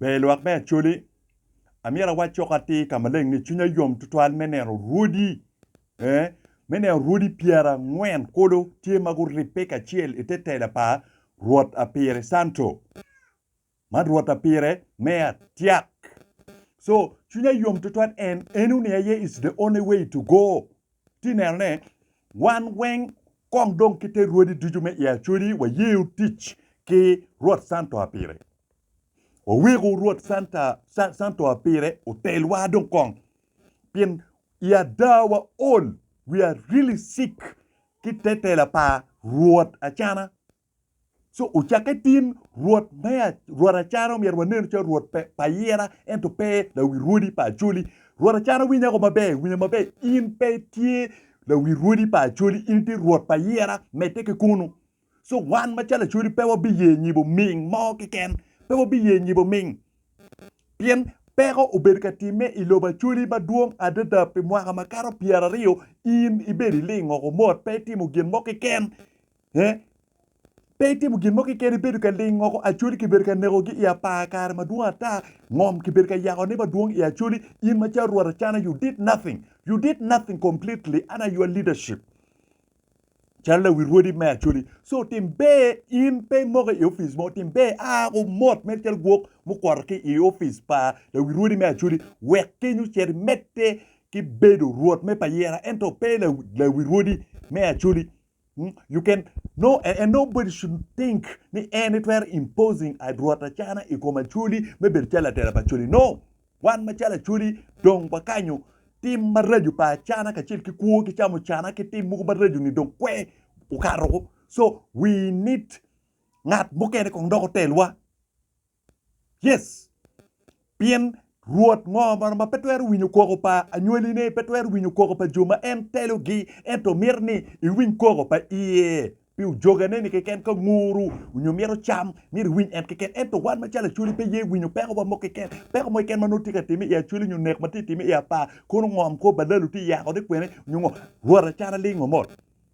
Ber i lwak me Acholi, Amyero awac cok atir ka maleng ni cwinya yom tutwal me neno rwodi, ee, me neno rwodi pyerangwen kulu tye ma guribbe kacel i te tela pa Rwot Apire Canto, man Rwot Apire me Atyak. So, cwinya yom tutwal en, eno ni aye is the only way to go. Ti neno ne, wan weng kong dong ki te rwodi ducu me i Acoli wayeyo tic ki Rwot Santo Apire. Waweko Rwot Santa, Sa, Santo Apire otelwa dong kong, pien i ada wa ol, we are really sick, ki te tela pa Rwot acana. Co ocakke tin, Rwot me Rwot Acana omyero wanenu calo Rwot pa ayira ento pe lawi rwodi pa Acholi. Rwot Acana winyo ago maber, winyo maber, in pe itye lawi rwodi pa Acholi, in itye Rwot pa ayira, medde ki kunu. Co wan macalo Acholi pe wabiye nyibo ming mo keken, pe wabiye nyibo ming, pien peko obedo ka timme i lobo Acholi madwong adada pi mwaka makato pyeraryo, in ibedo iling oko mot pe itimo gin mo keken Eh? Pe itimo gin mo keken ibedo ka lingo ko acholi kibedo ka nekogi i apar kare madwong ata ngom kibedo ka yako ne madwong i acholi in ma calo rwot acana you did nothing you did nothing completely under your leadership calo lawi rwodi me acholi so tim ber in pe imoke i office mo tim ber a ku mot mere calo gwok mukwoto ki i office pa lawi rwodi me acholi wek kenyo cet imedde ki bedo rwot me payira ento pe lawi rwodi me acholi Hmm? You can no and, and nobody should think ni en itwero imposing adrot acana i kom acoli me bedo calo atera pa acoli. No. Wan macalo acoli dong wakanyo tim maraco pa acana kacel ki kwo ki camo cana ki tim mogo maraco ni dong kwe okato. So we need ngat mukene kong dok otelwa. Yes. Pien Rwot ngo mono ma pe twero winyo koko pa anywalline, pe twero winyo koko pa jo ma en telogi, ento mito ni iwiny koko pa iye pi ojoganeni keken ka nguru onyo mito cam, myero iwiny en keken. Ento wan macalo Acholi pe ye winyo pekowa mo keken, peko mo keken ma nongo tye ka timme i Acholi onyo nek ma tye ka timme i Apar, kono ngom kor balalu tye yako ni kwene onyo ngo, Rwot acana ling omot.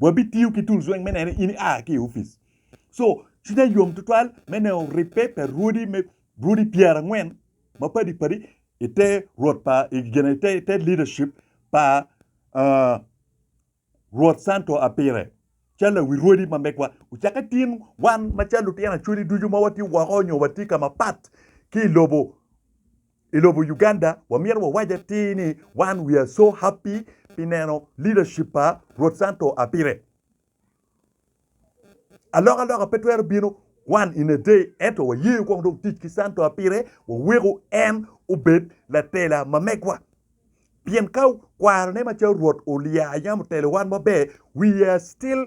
wabitiyo ki tools weng me nene in ia ki i opic so cwinya yom tutwal me neno ribbe pa rwodi me rwodi pyerangwen mapadi padi ite rwot pa igene ite ite leadership pa uh, rwot santo apire cal awi rwodi ma megwa ucake tin wan macal lutino acweli ducu ma watye woko nyo watye ka mapat ki lobo I lobo Uganda wamyero wawac atir ni wan we are so happy pi neno leadership pa Rwot Santo a pire. Alokaloka pe twero bino one in a day ento wayeyo kong dong tic ki Santo a pire waweko en obed latela ma megwa. Pien ka kwarone macalo Rwot olya yam otelo wan maber we are still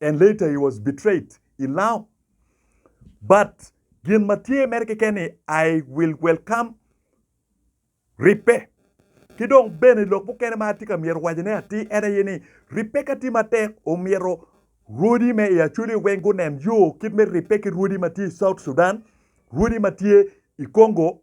and later he was betrayed in Lao but gin ma tye mere keken ni I will welcome ribbe ki dong bene lok mukene ma atye ka myero wacine atir en aye ni ribbe ka tye matek omyero rwodi me i Acholi weng gunen yo kit me ribbe ki rwodi ma tye i South Sudan, rwodi ma tye i Congo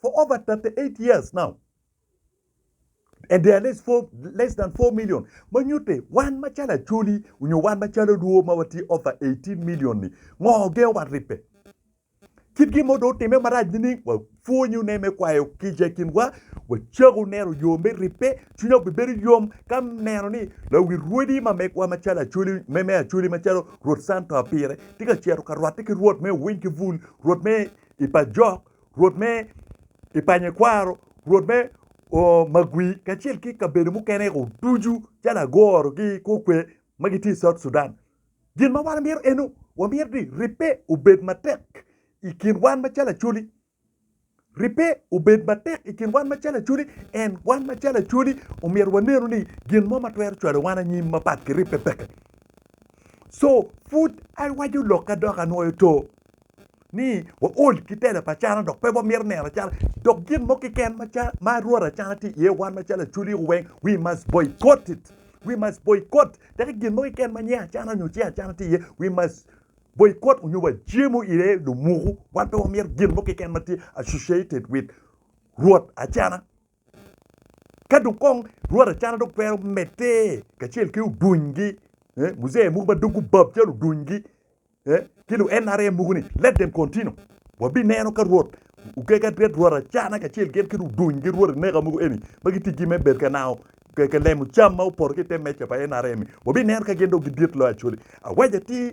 For over 38 years now and there are less, four, less than 4 million ma nyutte wan macalo Acholi onyo wan macalo Luo ma watye over 18 million ni ngo gengo wat ribbe? Kit gin mo do otime marac nining? Wapwonyo ne me kwayo kica i kinwa, wacako neno yo me ribbe, cwinya obibedo yom ka neno ni lawi rwodi ma megwa macalo Acholi me me Acholi macalo Rwot Santo Apire tye ka cito ka rwatte ki Rwot me Owiny ki Bul, Rwot me i pa Jok, Rwot me i panyekwaro, Rwot me Magui kacel ki kabedo mukene ko ducu calo Agoro ki Kokwe ma gitye i South Sudan. Gin ma wan mito eno, wamito ni ribbe obed matek i kin wan macalo Acholi. Ribbe obed matek i kin wan macalo Acholi, en wan macalo Acholi omyero wanenu ni gin mo ma twero cwalo wan anyim mapat ki ribbe peke. So pud awaco lokka dok anwoyo to. ni waol ki tela pa cana dok pe wamito neno cana dok gin mo kiken ma rwod acana tye iye wan macalo acholi weng we must boycott it we must boycott teki gin mo kiken ma nyinge acana nyo cing acana tye iye we must boycott onyo wajemo ire lumuku wan pe wamito gin mo kiken ma tye associated with rwod acana Ka dong kong rwot acana dong twero medde kacel ki odunygi, eh, muzee mogo ma dog gubab calo odunygi, eh, ki lu NRM mogo ni let them continue. Wabineno ka rwot okeke adret rwot acana kacel gin ki ludunygi rwot eneka mogo eni ma giticgi me bed ka nango ka- ka lemo cam ma opoto ki i te meja pa NRM-mi. Wabineno ka gin dong gidit loyo Acholi. Awaja ti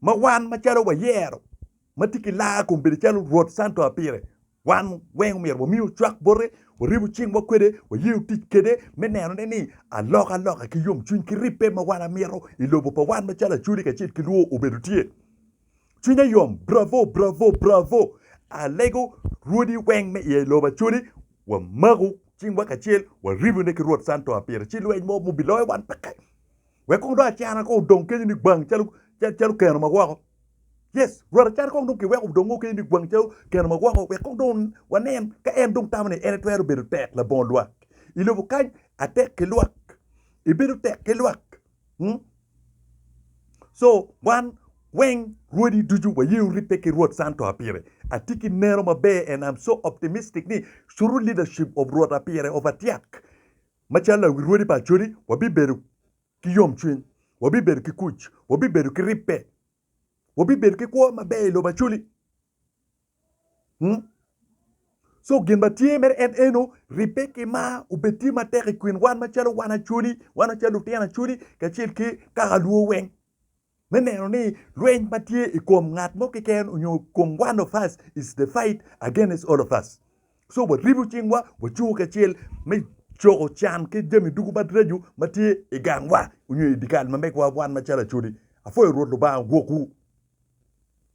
ma wan macalo wayero ma tye ki laa kun bedo calo Rwot Santo a pire, wan weng omyero wamiyo cwak bote, waribu cingwa kwede, wayeyo tic kede me nenone ni alokaloka ki yomcwiny ki ribbe ma wan amito i lobo pa wan macalo Acholi kacel ki Luo obedo tye. Cwinya yom, bravo, bravo, bravo! Alego Rwodi weng me iye i lobo Acholi, wamako cingwa kacel, waribune ki Rwot Santo a pire ci lweny mo mubiloyo wan peke. Wek kong dong acara kong odong kenyo ni gwang calo calo keno ma woko. Yes, Rwot acara kong dong kiweko odong o kenyo ni gwang calo keno ma woko wek kong dong wanen ka en dong tamo ni en etwero bedo tek labongo lwak i lobo kany atek ki lwak. Ebedo tek ki lwak. Hmm. So, wan weng rwodi ducu wayeyo ribbe ki Rwot Santo a pire. Atye ki neno maber and I'm so optimistic ni Suru leadership of Rwot a pire of atyak Macalo lawirwodi pa Acodi, wabibedo ki yomcwiny, wabibedo ki kuc, wabibedo ki ribbe, wabibedo ki kwo maber i lobo Acoli. Co gin ma tye mere en eno, ribbe ki mar obed tye matek i kin wan macalo wan Acoli, wan macalo lutino Acoli kacel ki kaka lwo weng. me neno ni lweny ma tye i kom ngat mo keken onyo i kom one of us is the fight against all of us. So waribu cingwa, wacungo kacel me coko can ki jami dugu madracu ma tye i gangwa onyo i dikal ma megwa wan macalo Acholi. Apwoyo Rwot Lubanga gwokwu.